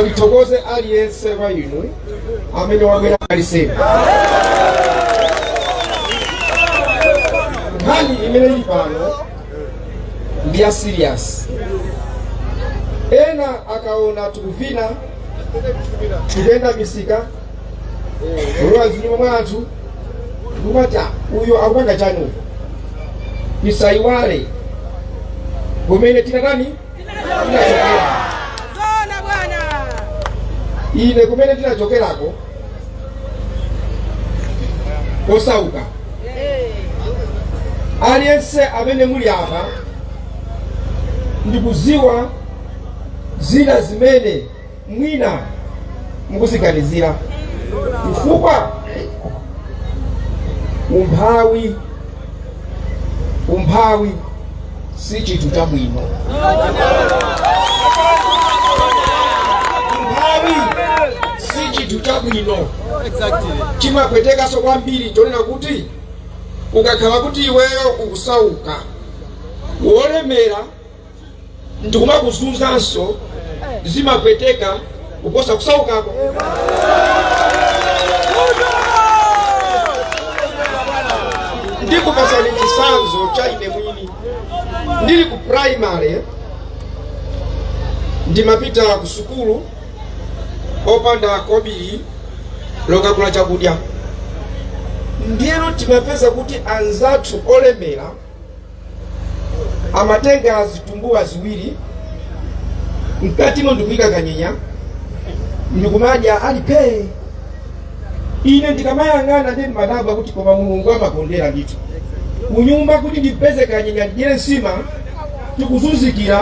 Ndithokoze aliyense wa inu amene wabwera pa Lisemani. Nkhani imene ili pano ndi ya serious. Ena akaona tukuvina tikuyenda misika kulowa zinyumba mwa anthu kumati "Ah, uyo akupanga chani uko tisaiwale kumene tinatani ine kumene ndinachokerako kosauka aliyense amene muli apa ndikuziwa zina zimene mwina mukuziganizira chifukwa umphawi umphawi si chinthu chabwino umphawi si chinthu chabwino chimapwetekanso kwambiri chonena kuti ukakhala kuti iweyo ukusauka wolemera ndikumakuzunzanso zimapweteka kuposa kusaukako ndikupasani chisanzo cha ine mwini ndili ku primary ndimapita ku sukulu opanda kobiri lokagula chakudya ndiyeno timapeza kuti anzathu olemera amatenga zitumbuwa ziwiri mkatimo ndikuyika kanyenya ndikumadya ali pee ine ndikamayang'ana ndimadabwa kuti koma mulungu amakondera ndithu kunyumba kuti ndipeze kanyenya ndidyere nsima tikuzunzikira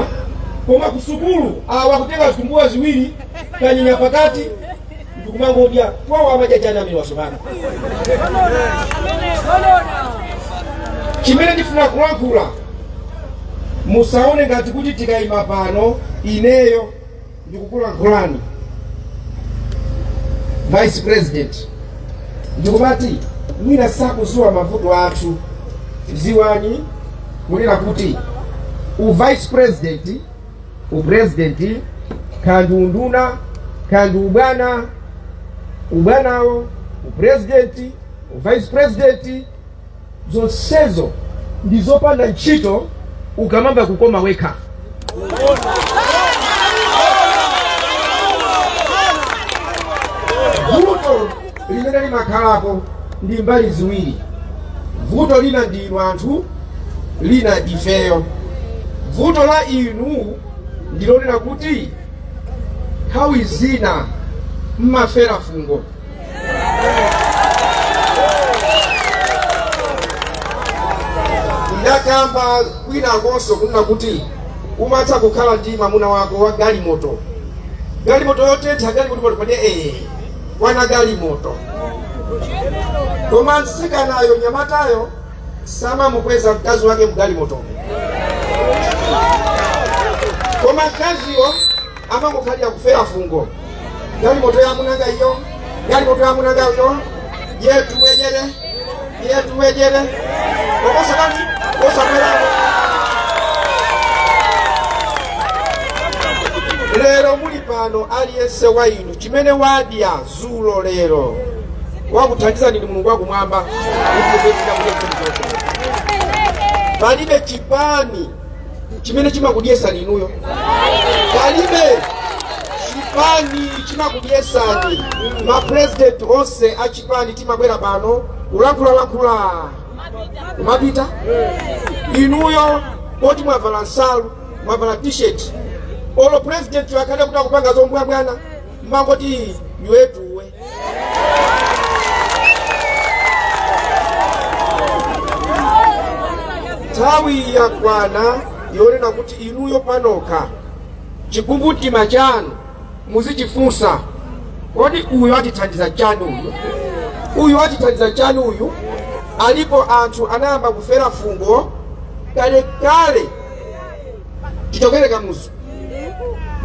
koma kusukulu awa kutenga zitumbuwa ziwiri kanyenya pakati ndikumangodya kwawo amadya chani amenewa zoona chimene ndifuna kulankhula musaone ngati kuti tikayima pano ineyo ndikukulankhulani vice president ndikumati mwina sakuziwa mavuto athu ziwani kunena kuti u vice president upurezidenti kaya ndi unduna kaya ndi ubwana ubwanawo upurezidenti uvice president zonsezo ndi zopanda ntchito ukamamva kukoma wekha limene limakhalapo ndi mbali ziwiri. Vuto lina ndi inu anthu, lina ndi ifeyo. Vuto la inu ndi lonena kuti nthawi zina mmafera fungo. Ndakamba kwinakonso kunena kuti umatha kukhala ndi mwamuna wako wa galimoto galimoto yotentha galimoto paliponde ee kwana galimoto koma mtsikanayo nyamatayo samamukweza mkazi wake mgalimoto koma mkaziyo amangokhalira kufera fungo galimoto ya amunanga iyo galimoto ya amunanga iyo yetu wejere yetu wejere okosakani osakwerapo lero muli pano aliyense wa inu chimene wadya zulo lero wakuthandizani ndi mulungu wakumwamba palibe chipani chimene chimakudyesani inuyo palibe chipani chimakudyesani mapurezidenti onse a chipani timabwera pano kulankhulalankhula kumapita inuyo poti mwavala nsalu mwavala t-shirt olo president akhale kuti akupanga zombwambwana mmangoti yuwetuwe nthawi yakwana yonena kuti inuyo panokha chikumbumtima chanu muzichifunsa kodi uyu atithandiza chani uyu uyu atithandiza chani uyu alipo anthu anayamba kufera fungo kalekale chichokere kamuzu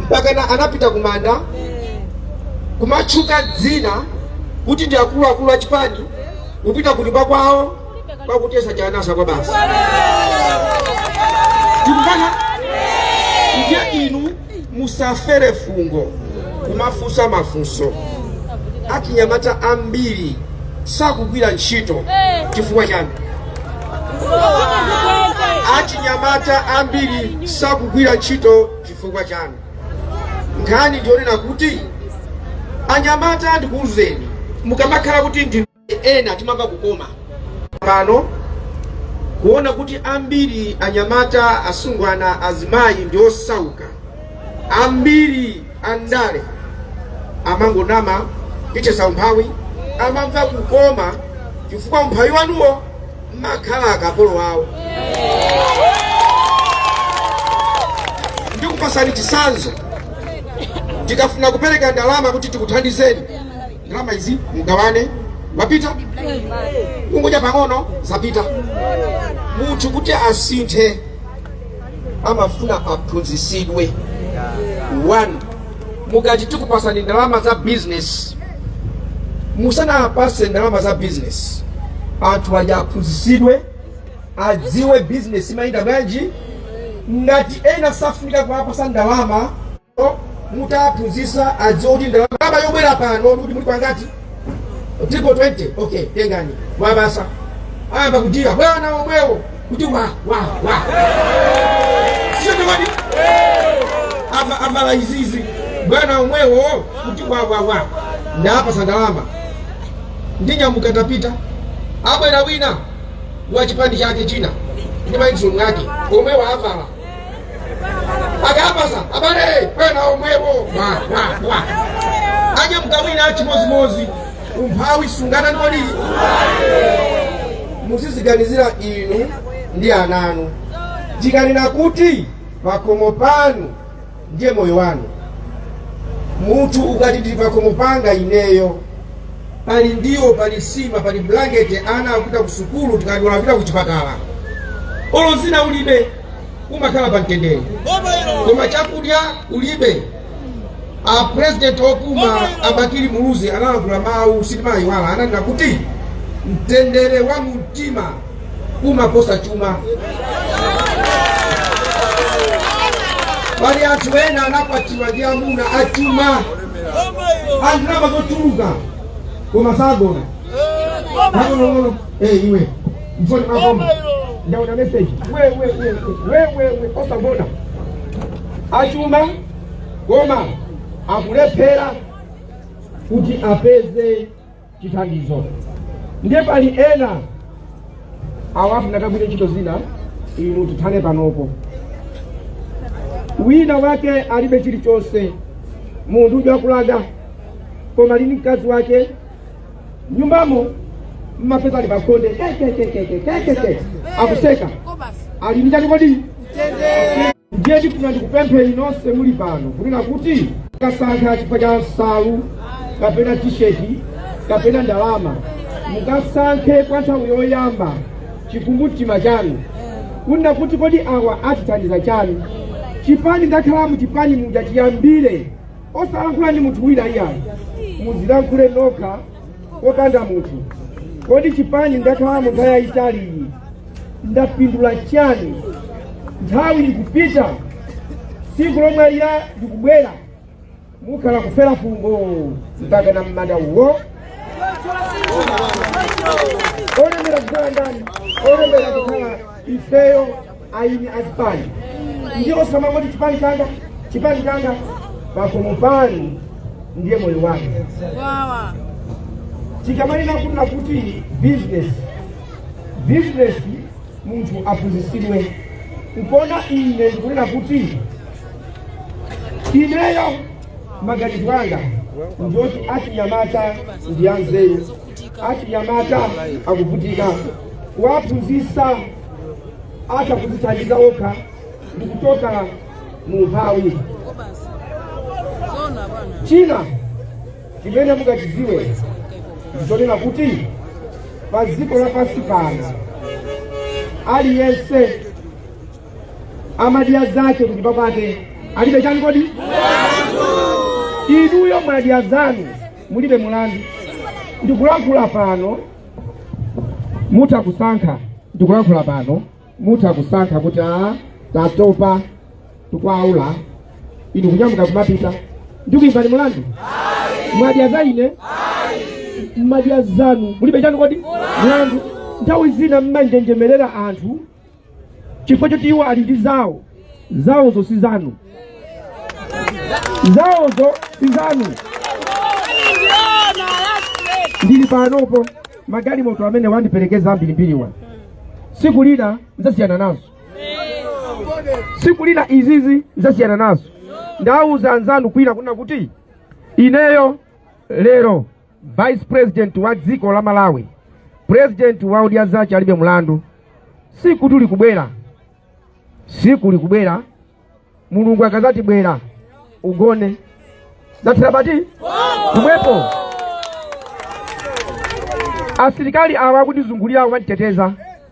mpakana anapita kumanda kumatchuka dzina kuti ndi akuluakulu a chipani kupita kunyumba kwawo kwakutesa chanasa kwa basi tikukana ndiye inu Musafere fungo kumafunsa mafunso. Achinyamata ambiri sakugwira ntchito chifukwa chani? Achinyamata ambiri sakugwira ntchito chifukwa chani? Nkhani ndiyonena kuti anyamata ndikuuzeni, mukamakhala kuti ndi ena timamva kukoma pano kuona kuti ambiri anyamata asungwana azimayi ndi osauka ambiri andale amangonama tithesa umphawi amamva kukoma chifukwa umphawi wanuwo mmakhala akapolo wawo ndikupasani chisanzo tikafuna kupereka ndalama kuti tikuthandizeni ndalama izi mugawane mwapita kungodya pang'ono zapita munthu kuti asinthe amafuna aphunzisidwe one mukati tikupasani ndalama za business musanawapase ndalama za business anthu aja aphunzisidwe adziwe business imayenda bwanji ngati ena safunika kuwapasa ndalama mutawaphunzitsa adziwa kuti ndalama yobwera pano ndikuti muli pangati triple 20 okay tengani wabasa ayamba kuyimbira bwana omwewo kuti wa wa wa si ndani avala izizi bwana omwewo kuti wa wa wa ndawapasa ndalama ndinyamuka tapita abwera wina wa chipani chake china ndi matisheti ake omwewo avala akapasa avale bwana omwewo wa wa wa adya mkamwina chimozimozi umphawi sungathe ndikodi muziziganizira inu ndi ananu tikanena kuti pakhomo panu ndiye moyo wanu munthu ukati ndi pakhomo panga ineyo pali ndiwo pali sima pali blanketi ana akupita kusukulu tikati wadwala kuchipatala olo zina ulibe umakhala pa mtendere koma chakudya ulibe a president opuma abakili muluzi analankhula mawu sitimayiwala ananena kuti mtendere wa mumtima umaposa chuma pali anthu ena anakwatiwa ndi amuna achuma a ndalama zochuluka koma sagona akonokono Eh iwe. Mfoni mwakomu. Ndaona message. Wewe wewe wewe wewe osagona? Achuma koma akulephera kuti apeze chithandizo. Ndiye pali ena awapha ndakagwira ntchito zina imwe tithane panopo. Wina wake alibe chilichonse munthu uja kusauka koma ali ndi mkazi wake nyumbamo mmapeza ali pakonde kekekekekekeke akuseka ali ndi chani kodi ndiye ndifuna ndikupempheni nonse muli pano kunena kuti musakasankhe chifukwa cha nsalu kapena tisheti kapena ndalama mukasankhe kwa nthawi yoyamba chikumbumtima chanu kunena kuti kodi awa atithandiza chani chipani ndakhala mu chipani muja chiyambire osalankhula ndi munthu wina iyayi muzilankhule nokha popanda munthu kodi chipani ndakhalamo nthawi yayitali iyi ndapindula chani nthawi ikupita tsiku lomwalira likubwera mukhala kufera fungo mpaka na mmanda uwo olemera kukhala ndani olemera kukhala ifeyo eni azipani ndiye osamangoti chipani changa chipani changa pakomo panu ndiye moyo wake tikamanena kunena kuti business business munthu aphunzitsidwe nkuona ine ndikunena kuti ineyo maganizo anga ndioti achinyamata ndi anzeru achinyamata akuvutika kuwaphunzitsa atha kudzithandiza okha ndi kuchoka mu umphawi china chimene mungachidziwe ndichonena kuti pa dziko lapansi pano aliyense amadya zake kunyumba kwake alibe chani kodi inuyo mwadya zanu mulibe mulandu ndikulankhula pano mutha kusankha ndikulankhula pano mutha kusankha kuti a tatopa tikwaula inu kunyamuka kumapita ndikuimbani mulandu mwadya za ine mmadya zanu mulibe chani kodi mulandu nthawi zina mmanjenjemerera anthu chifukwa choti iwo ali ndi zawo zawozo si zanu zawozo si zanu ndili panopo magalimoto amene wandiperekeza ambirimbiriwa siku lina nzasiyana nazo siku lina izizi nzasiyana nazo ndawuza anzanu kwina kuna kuti ineyo lero vice president wa dziko la malawi president wa odya zake alibe mulandu sikutu likubwera siku likubwera mulungu akazati bwera ugone zathera pati pomwepo asilikali awa akundizungulira awo amanditeteza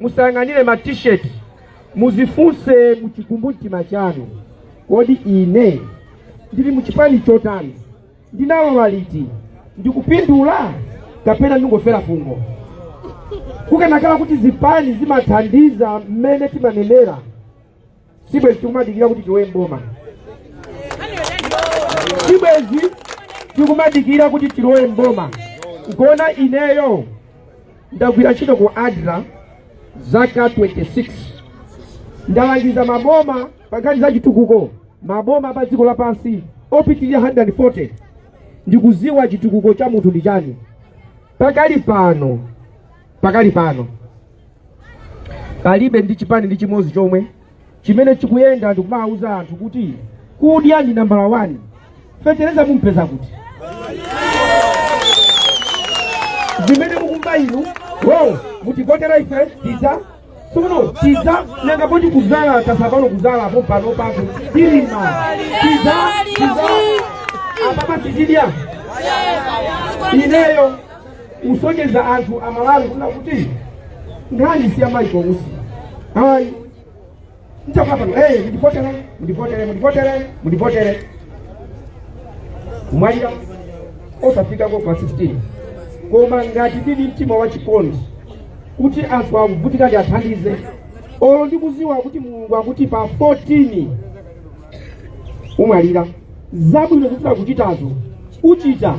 musayang'anire ma t-shirt muzifunse muchikumbumtima chanu kodi ine ndili muchipani chotani ndinalowa liti ndikupindula kapena ndingofera fungo kukanakhala kuti zipani zimathandiza mmene timanenera sibwezi tikumadikira kuti tilowe mboma sibwezi tikumadikira kuti tilowe mboma nchona ineyo ndagwira ntchito ku adra zaka 26 ndalangiza maboma pa nkhani za chitukuko maboma pa dziko lapansi opitirira 140 ndikuziwa chitukuko cha munthu ndi chani pakali pano pakali pano palibe ndi chipani ndi chimodzi chomwe chimene chikuyenda ndikumawuza anthu kuti kudya ndi nambala 1 fetereza mumpeza kuti zimene mukumva inuyo mutivotera ife tiza tsono tiza nanga poti kudzala tasapano kudzala apo pano pake tilima tiza tiza apapa tichidya ineyo kusonyeza anthu amalawi kuno kuti nkhani si ya maiko kutsidya ayi Ndikapita pano. Eh, mundivotere, mundivotere, mundivotere, mundivotere. Umwalira osafika ko kwa 16. Koma ngati uli ndi mtima wa chikondi kuti anthu akuvutika ndiwathandize. Olo ndikuziwa kuti Mulungu akuti pa 14 umwalira. Zabwino zofuna kuchitazo uchita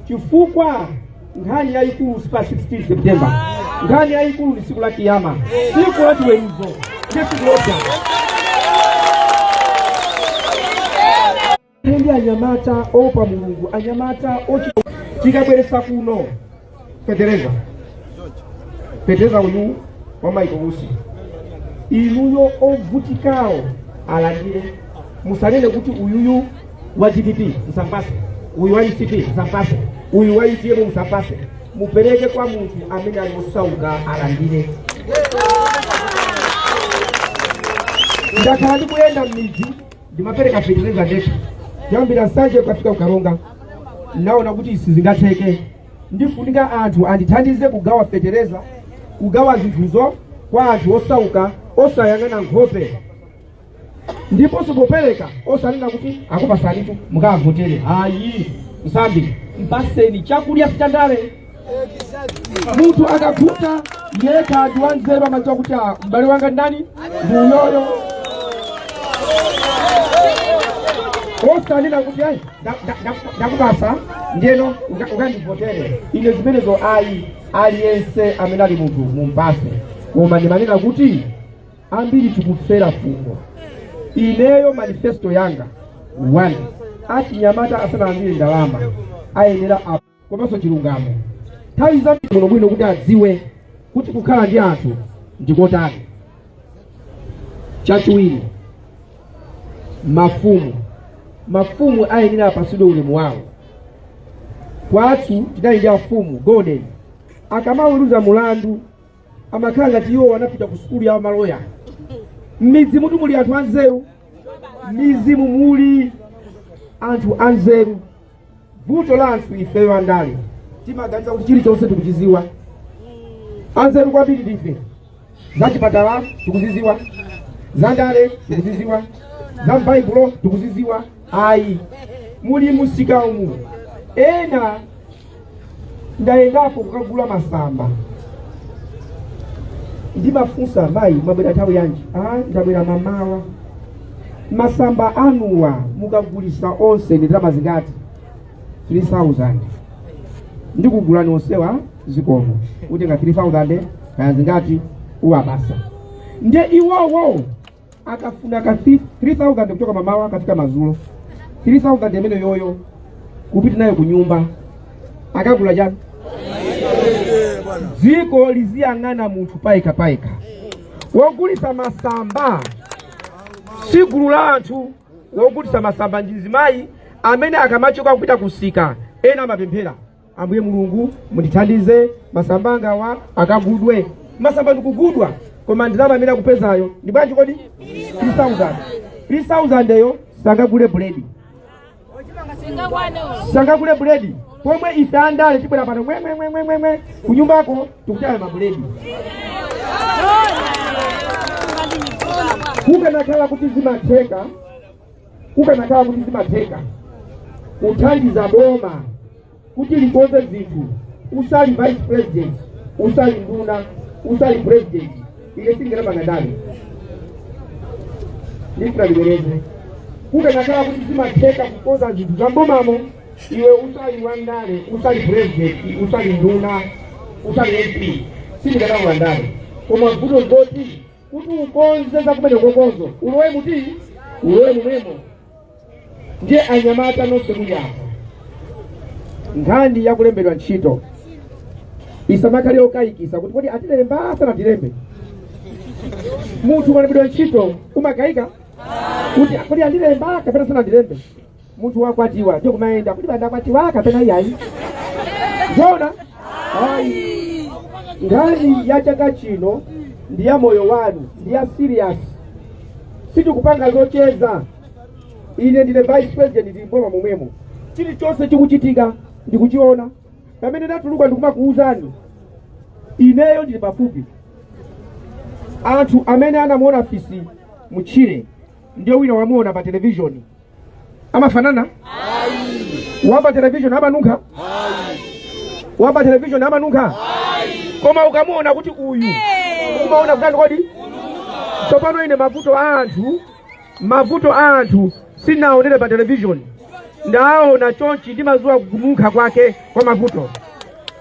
chifukwa nkhani yayikulu si pa 16 september nkhani yayikulu ndi siku la kiyama siku la chiweruzo ndesikulota ndi anyamata oopa mulungu anyamata ochi tikabweresa kuno fetereza fetereza uyu wa maiko kusi inuyo ovutikawo alandire musanene kuti uyuyu wa dpp msampase uyu wa mcp msampase uyu wa utm msampase mupereke kwa munthu amene ali osauka alandire ndakhala ndikuyenda m'midzi ndimapereka fetereza ndekha kuyambira ku nsanje kukafika ku karonga naona kuti sizingatheke ndifunika anthu andithandize kugawa fetereza kugawa zinthuzo kwa anthu osauka osayang'ana nkhope ndiponso popereka osanena kuti akupasanitu mukavotere ayi nsambi mpaseni chakudya sitandale munthu akakhuta yekha ndi wanzeru amadziwa kuti ah, m'bale wanga ndani ndi uyoyo osanena kuti ayi nda- nda- nda- ndakupasa ndiyeno uka- ukandivotere ine zimenezo ayi aliyense amene ali munthu mumpase koma ndimanena kuti ambiri tikufera fungo ineyo manifesto yanga one achinyamata asanalandire ndalama ayenera a- komanso chilungamo nthawi zabwinobwino kuti adziwe kuti kukhala ndi anthu ndikotani chachiwiri mafumu mafumu ayenera apasidwe ulemu wawo kwathu tidali ndi afumu golden akamaweruza mulandu amakhala ngati iwo anapita ku sukulu ya maloya m'midzimutu muli anthu anzeru m'mizimu muli anthu anzeru vuto la anthu ifeyo andale timaganiza kuti chilichonse tikuchiziwa anzeru kwambiri ndife za chipatala tikuziziwa za ndale tikuziziwa za m'baibulo tikuziziwa ayi muli musika umu ena ndayendapo kukagula masamba ndimafunsa mayi mwabwera nthawi yanji ah ndabwera mamawa masamba anuwa mukagulisa onse ndi ndalama zingati 3000 ndikugulani onsewa zikomo utenga 3000 kaya zingati uwapasa nde iwowo akafuna ka 3000 kuchoka mamawa kukafika mazulo 3000 imeneyoyo kupita nayo kunyumba akagula chani dziko liziyang'ana munthu payekha payekha wogulitsa masamba si gulu la anthu wogulitsa masamba ndi mzimayi amene akamachoka kupita kusika ena amapemphera ambuye mulungu mundithandize masamba angawa akagudwe masamba ndikugudwa koma ndalama amene akupezayo ndi bwanji kodi 3000 3000 yo sangagule buledi sangagule buledi pomwe ife andale tibwera pano mwemwemwemwemwe kunyumbako tikutaya mabuledi kukanakhala kuti zimatheka kukanakhala kuti zimatheka kuthandiza boma kuti likonze zinthu usali vice president usali nduna usali president ine sindikanapanga ndale ndifuna ndibwereze kukanakhala kuti zimatheka kukonza zinthu za m'bomamo iwe usali wa ndale usali president usali nduna usali mp sindikanapanga ndale koma vuto nzoti kuti ukonze za kumenekokozo ulowe muti ulowe mumwemo ndiye anyamata nonse muli apa nkhani yakulembedwa ntchito isamakhale yokayikisa kuti kodi atilemba sanatilembe munthu ukalembedwa ntchito umakayika kuti kodi andilemba kapena sanandilembe munthu wakwatiwa ndiye kumayenda kuti bandakwatiwa kapena iyayi zoona ayi nkhani ya chaka chino ndi ya moyo wanu ndi ya serious sitikupanga zocheza ine ndine vice president ndili mboma momwemo chilichonse chikuchitika ndikuchiona pamene ndatuluka ndikumakuwuzani ineyo ndili pafupi anthu amene anamuona fisi mutchire ndi wina wamuona pa televishoni amafanana wapa televishoni amanunkha wapa televishoni amanunkha koma ukamuona kuti uyu umaona kutani kodi tsopano ine mavuto a anthu mavuto a anthu sinaonere pa televishoni ndaona chonchi ndimadziwa kununkha kwake kwa mavuto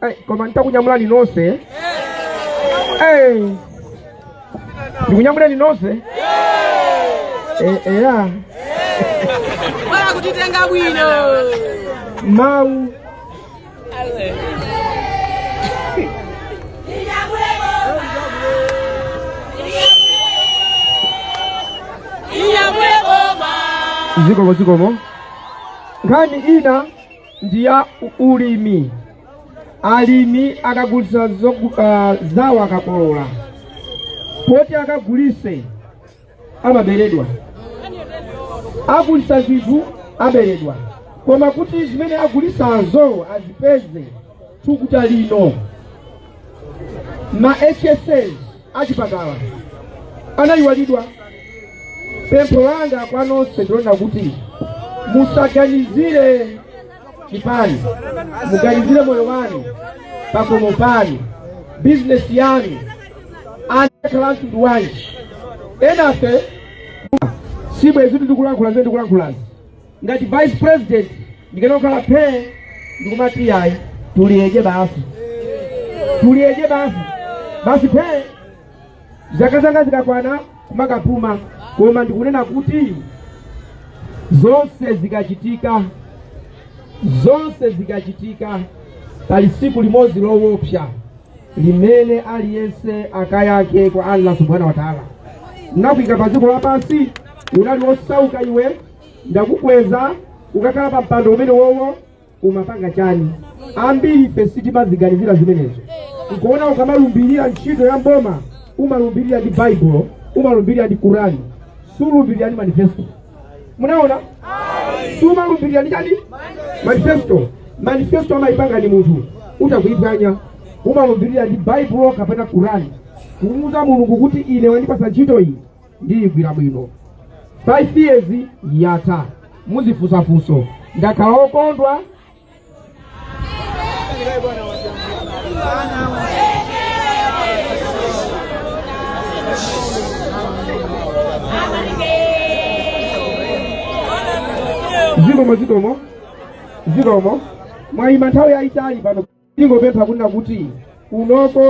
Hey, koma nitakunyamulani nonse hey. tikunyamuleni nonse Eh, eh, ya bola kutitenga bwino. mau Iya bwebo ma. zikomo zikomo nkhani ina ndi ya ulimi alimi akagulisa uh, zawo akakolola poti akagulise amaberedwa agulisa zinthu aberedwa koma kuti zimene agulisazozo azipeze thukuta lino ma hsa achipatala anayiwalidwa pempho langa kwa nonse ndi lonena kuti musaganizire chipani muganizire moyo wanu pakomo panu bizinesi yanu anakakhala mtundu wina enafe sibwezi ndikulankhula zimene ndikulankhulazi ngati vice president ndikanangokhala phee ndikumati yayi tuliyeje basi tuliyeje basi basi phee zaka zanga zikakwana kumakapuma koma ndikunena kuti zonse zikachitika zonse zikachitika pali tsiku limodzi lowopsa limene aliyense akayankhe kwa allah subhanahu wa taala ndinakuika pa dziko lapansi unali wosauka iwe ndakukweza ukakhala pa mpando umene uwowo umapanga chani ambiri ife sitimaziganizira zimenezo nkuona ukamalumbirira ntchito ya mboma umalumbirira ndi baibulo umalumbirira ndi kurani sulumbirira ndi manifesto munaona sumalumbirira ndi chani manifesto manifesto amayipanga ndi munthu utha kuyiphwanya umalumbirira ndi baibulo kapena kurani kumuuza mulungu kuti ine wandipasa ntchito iyi ndiyigwira bwino 5 years yatha muzifusafuso ndakhala okondwa zikomo zikomo zikomo mwayima nthawi yayitali pano tingopempha kunena kuti kunoko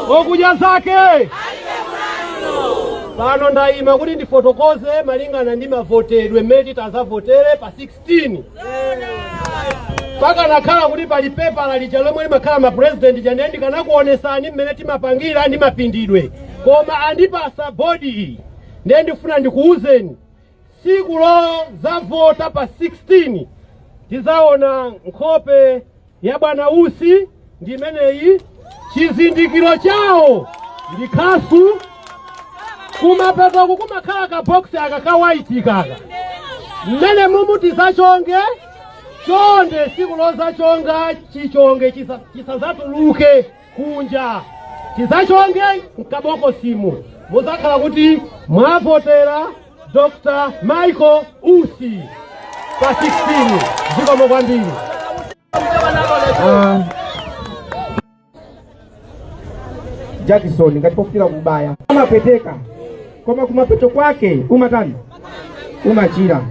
kwa Odya Zake pano ndayima kuti ndifotokoze malingana ndi mavotedwe mmene titazavotere pa 6 pakanakhala kuti pali pepala lija lomwe limakhala ma president ija ndiye ndikanakuonesani mmene timapangira ndi mapindidwe koma andipasa bodi iyi ndiye ndifuna ndikuwuzeni siku lozavota pa 16 tizaona nkhope ya bwana Usi ndi imeneyi, chizindikiro chawo ndi khasu, kumapetoku kumakhala ka box aka ka white kaka, mmene mumu tizachonge chonde siku lozachonga chichonge chisazatuluke kunja tizachonge mkabokosimu muzakhala kuti mwavotera Dr. Michael Usi pa 16 zikomo kwambiri uh, jakisoni ngati pofika kubaya amapweteka koma kumapeto kwake umatani umachira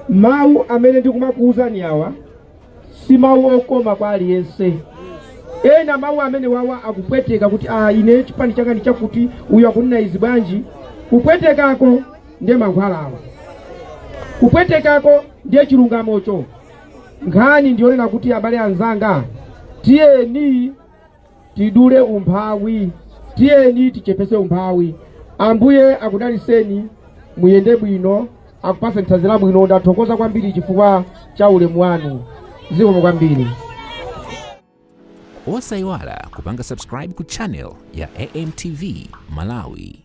mawu amene ndikumakuwuzani awa si mawu okoma kwa aliyense ena mawu amene wawa akupweteka kuti ah, ine chipani changa ndi chakuti uyu akunena izi bwanji kupwetekako ndiye mankhwalawo kupwetekako ndiye chilungamocho nkhani ndiyonena kuti abale anzanga tiyeni tidule umphawi tiyeni tichepese umphawi ambuye akudaliseni muyende bwino akupase nthanzi labwino ndathokoza kwambiri chifukwa cha ulemu wanu zikomo kwambiri osayiwala kupanga subscribe ku channel ya amtv malawi